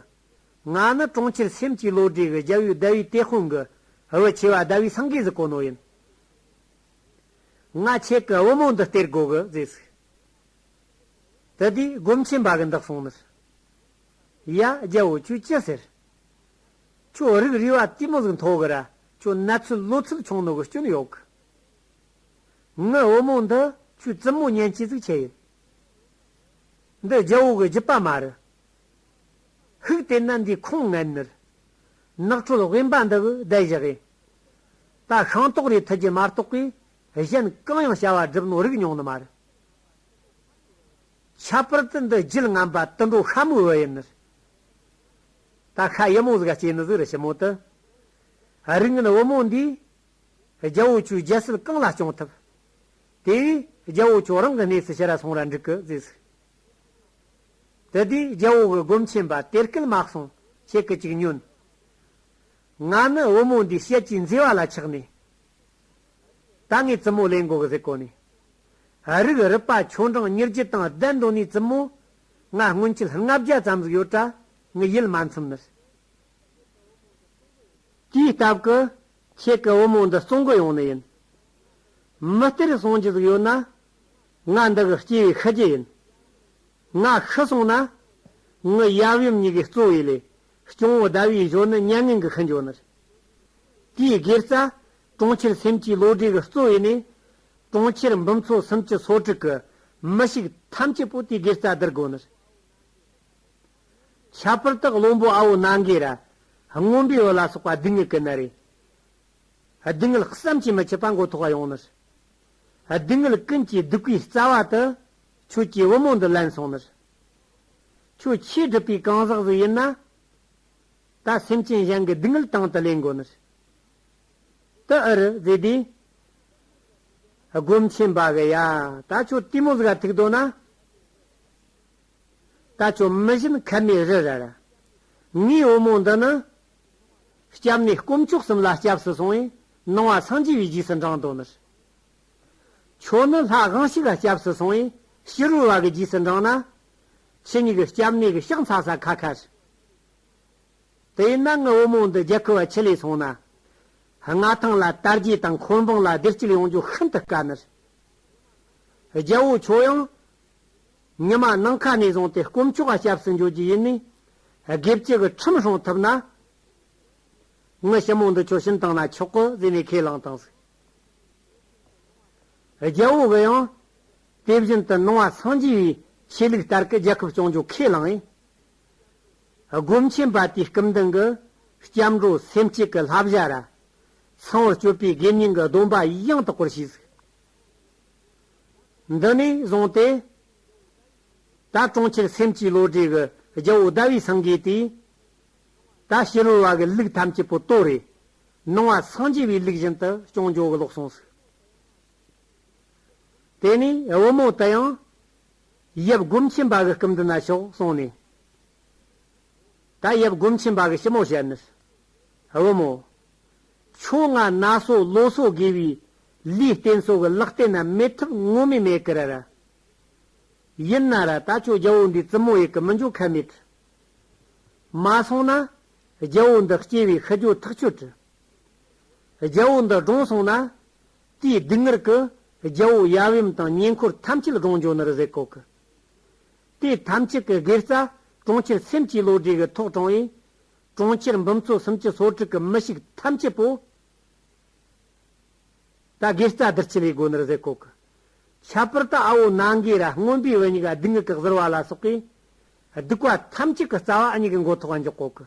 ང་ནི་གྲོང་ཁྱེར་སེམས་ཀྱི་བློ་གྲོས་ཀྱི་རྒྱལ་བོའི་ཟླ་བའི་ཏེ་ཧོན་གི་བུ་ཆེ་བ་ཟླ་བའི་སངས་རྒྱས་ཟིག་གོ་ནོ་ཡིན། ང་ཁྱེད་གི་བུ་མོ་འདི་སྟེར་དགོས་གི་ཟེ་ཟིག། དེ་དུས་སྒོམ་ཆེན་པ་གི་འདག་སོང་མི་སྲིད། ཡ། རྒྱལ་བོ་ཁྱོས་ཅི་ཟེར། ཁྱོད་རིགས་རུས་བ་ལྟི་མོ་ཟིག་མཐོ་གི་ར་ཁྱོད་ནད་ཚུལ་གློ་ཚུལ་ཆུང་ནོ་གི་སྐྱོན་ཡོད་གི། ངའི་བུ་མོ་འདི་ཁྱོད་བཙུན་མོ་ཉན་ཅི་ཟིག་བྱེད་ཡོད། འདི་རྒྱལ་བོ་གི་རྒྱུད་པ་མ་རེད། ཧིག་དེ་ནད་འདིའི་ཁུངས་ངན་ནིར། ནགས་ཁྲོད་དབེན་པ་འདི་གི་བསྡད་བཞག་ཡིན། ད་ཤིང་ཏོག་རེ་ཐུལ་གྱི་མ་གཏོགས་པའི་གཞན་གང་ཡང་བྱ་བ་སྒྲུབ་ནོ་རིགས་མྱོང་ནི་མ་རེད། ཁྱད་པར་དུ་འདི་རྒྱུད་རྔམ་པ་དུད་འགྲོ་ཤ་མོའི་བུ་ཡིན་ནིར། ད་ཁ་ཡི་མོ་ཟིག་ཨ་སྐྱེས་ནི་ཟིག་རི་ཕྱི་མོ་དུ། རིགས་ངན་བུ་མོ་འདིས། རྒྱལ་བོ་ཁྱོད་རྒྱལ་སྲིད་གང་ལ་སྐྱོང་ཐུབ། དེ་བས་རྒྱལ་བོ་ཁྱོད་རང་གི་གནས་སུ་ཕྱི་ར་སོང་ར་འགྲིག་གི་ཟིག་ཟིག། དེ་དུས་རྒྱལ་བོ་གི་སྒོམ་ཆེན་པ་དེར་སྐད་མ་གསུངས་ཁྱེད་ཀྱི་ཅིག་ཉོན། ང་ནི་བུ་མོ་འདིའི་བཤད་ཀྱི་མཛེས་བ་ལ་ཆགས་ནས། ད་ངས་བཙུན་མོ་ལེན་དགོ་གི་ཟིག་གོ་ནས། རིགས་རུས་པ་ཁྱོད་རང་ཉེར་བརྒྱུད་དང་ལྡན་འགྲོ་ནས་བཙུན་མོ་ང་སྔོན་ཆད་ལྔ་བརྒྱ་ཙམ་ཟིག་ཡོད་གྲྭ་ངི་ཡིད་མ་འཚིམ་ནི། དེའི་སྟབས་ཀི་ཁྱེད་ཀི་བུ་མོ་འདི་བཙོང་གི་ཡོང་ནི་ཡིན། མི་སྟེར་སོང་གྱི་ཟིག་ཡོད་ན། ང་འདི་གི་སྐྱེ་བའི་ཤི་རྒྱུ་ཡིན། ང་ཤི་སོང་ན། ངི་ཡབ་ཡུམ་གཉིས་ཀའི་གཙོ་བོའི་ལས་སྐྱོང་བོ་ཟླ་བའི་གཞོན་ནི་མྱ་ངན་གི་ཁི་འཇོ་ནི། དེའི་སྒེར་རྩ། གྲོང་ཁྱེར་སེམས་ཀྱི་བློ་གྲོས་གི་གཙོ་བོའི་གནས། གྲོང་ཁྱེར་འབུམ་ཚོ་སུམ་ཅུ་སོ་དྲུག་གི་མི་ཞིག་ཐམས་ཅད་པོ་ཏི་སྒེར་རྩ་བསྡུར་དགོས་ནི། ཁྱད་པར་དག་བློན་པོ་ཨའོ་ན་འགའི་ར། རྔོན་པའི་བུ་ལ་སོགས་པ་སྡུག་བསྔལ་ཀི་ན་རེ། སྡུག་བསྔལ་བསམ་གྱིས་མི་ཁྱབ་པ་མགོ་ཐོག་བ་ཡོང་ནི། སྡུག་བསྔལ་ཀུན་གྱིས་སྡུག་པའི་རྩ་བ་དུ། ཁྱོད་ཀྱིས་བུ་མོ་འདི་ལེན་སོང་ནི། ཁྱོད་ཆེས་སྒྲིབ་པའི་གང་ཟག་ཟིག་ཡིན་ན། ད་སེམས་ཅན་གཞན་གྱི་སྡུག་བསྔལ་དང་དུ་ལེན་དགོས་ནི། དུ་ཨུ་རུ་ཛི་དེ། སྒོམ་ཆེན་བག་ཡ་ད་ཆོ་ཏི་མོ་ཟིག་ར་ཐིག་དོ་ན། ད་ཆོ་མི་བཞིན་ཁ་མའི་རི་ར་ར། ངའི་བུ་མོ་འདི་ནི། སྐྱབས་ནས་སྐོམ་ཆོག་གསུམ་ལ་སྐྱབས་སུ་སོང་བས་སྣང་བ་སངས་རྒྱས་པའི་རྗེས་སུ་འབྲང་དོ་ནི། ཁྱོད་ནི་ལྷ་གང་ཞིག་ལ་སྐྱབས་སུ་སོང་བས་ཕྱི་རོལ་བ་གི་རྗེས་སུ་འབྲང་ན། ཁྱི་གཉིས་ཀྱི་སྐྱབས་གནས་ཀྱི་ཤག་འཚག་ས་ཁ་ཁ་རི། དེ་ཡིན་ན་ངའི་བུ་མོ་འདི་རྒྱལ་ཁུལ་བ་ཆེ་ལས་སོང་ན། མངའ་ཐང་ལ་དར་རྒྱས་དང་འཁོར་འབངས་ལ་བདེ་སྐྱིད་ཡོང་རྒྱུ་ཤིན་ཏུ་དཀའ་མོད། རྒྱལ་བོ་ཁྱོད་ཡང། ཉི་མ་ནང་ཁ་ནས་བཟུང་སྟེ་དཀོན་མཆོག་ག་སྐྱབས་སུ་འགྱོད་རྒྱུ་ཡིན་ནིས། སྒེར་གཅིག་གི་ཁྲིམས་སྲུང་ཐུབ་ན། ངའི་ཞི་མོ་འདི་ཁྱོད་ཤིན་ཏང་ན་ཆོག་གོ་ཟེར་ནས་ཁས་བླངས་དང་གཟིགས། རྒྱལ་བོ་གི་ཡང། དེ་བཞིན་དུ་ནང་བ་སངས་རྒྱས་བའི་ཆོས་ལུགས་ལྟར་གི་རྒྱལ་ཁབ་སྐྱོང་རྒྱུ་ཁས་བླངས་ཡིན། སྒོམ་ཆེན་པ་དེའི་སྐུ་མདུན་གྱི་སྐྱབས་འགྲོ་སེམས་བསྐྱེད་ཀྱི་ལྷ་བཞག་ར། ཚངས་བུག་སྤྱོད་པའི་དགེ་བསྙེན་གྱི་སྡོམ་པ་ཡང་དག་པར་བྱས། འདི་ནས་བཟུང་སྟེ། ད་གྲོང་ཁྱེར་སེམས་བསྐྱེད་བློ་གྲོས་ཀྱི་རྒྱལ་པོ་ཟླ་བའི་སངས་རྒྱས་དེས། ད་ཕྱི་རོལ་བ་གི་ལུགས་ཐམས་ཅད་པོ་ཏོ་རེ། སྣང་བ་སངས་རྒྱས་པའི་ལུགས་བཞིན་དུ་སྐྱོང་སྦྱོང་གི་ལོག་གསུངས་སོ། དེ་ནས་བུ་མོ་དེ་ཡང། ཡབ་སྒོམ་ཆེན་པ་གི་སྐུམ་འདི་ན་ཤོག་སོང་ནས། ད་ཡབ་སྒོམ་ཆེན་པ་གི་ཞི་མོ་བྱས་ནས། བུ་མོ། ཁྱོད་ང་ན་སོ་ལོ་སོ་དགེ་བའི་ལུས་རྟེན་སོ་གི་ལག་རྟེན་ན་མེད་ཐུབ་ངོ་མི་མེད་ཀི་ར་ར། ཡིན་ན་ར་ད་ཁྱོད་རྒྱལ་བོ་འདིའི་བཙུན་མོ་ཡི་གི་མི་འཇོག་ཁ་མེད། མ་སོང་ན། རྒྱལ་བོ་འདི་སྐྱེ་བའི་ཤི་རྒྱུ་ཐག་ཆོད། རྒྱལ་བོ་འདི་གྲོངས་སོང་ན། དེའི་སྡུག་བསྔལ་གྱི་རྒྱལ་པོ་ཡབ་ཡུམ་དང་ཉེ་འཁོར་ཐམས་ཅད་གང་འབྱོར་ནུར་ཟས་གོ་གི། དེ་ཐམས་ཅད་ཀྱི་སྒེར་རྩ་གྲོང་ཁྱེར་སེམས་ཀྱི་བློ་གྲོས་ཀྱི་ཐོག་དྲངས་ཡས་གྲོང་ཁྱེར་འབུམ་ཚོ་སུམ་ཅུ་སོ་དྲུག་གི་མི་ཞིག་ཐམས་ཅད་པོ། ད་སྒེར་རྩ་བདུད་བྱི་ལའི་སྒོ་ནུར་ཟས་གོ་གི། ཁྱད་པར་དུ་ཨ་བོ་ནང་གི་ར་སྔོན་པོའི་བུ་ཉིད་ཀྱི་སྡུག་བསྔལ་གྱི་གཟིར་བ་ལ་སོགས་པའི་སྡུག་བ་ཐམས་ཅད་ཀྱི་རྩ་བ་ཨ་ཉིད་ཀྱི་མགོ་ཐོག་འཇོག་གོ་གི།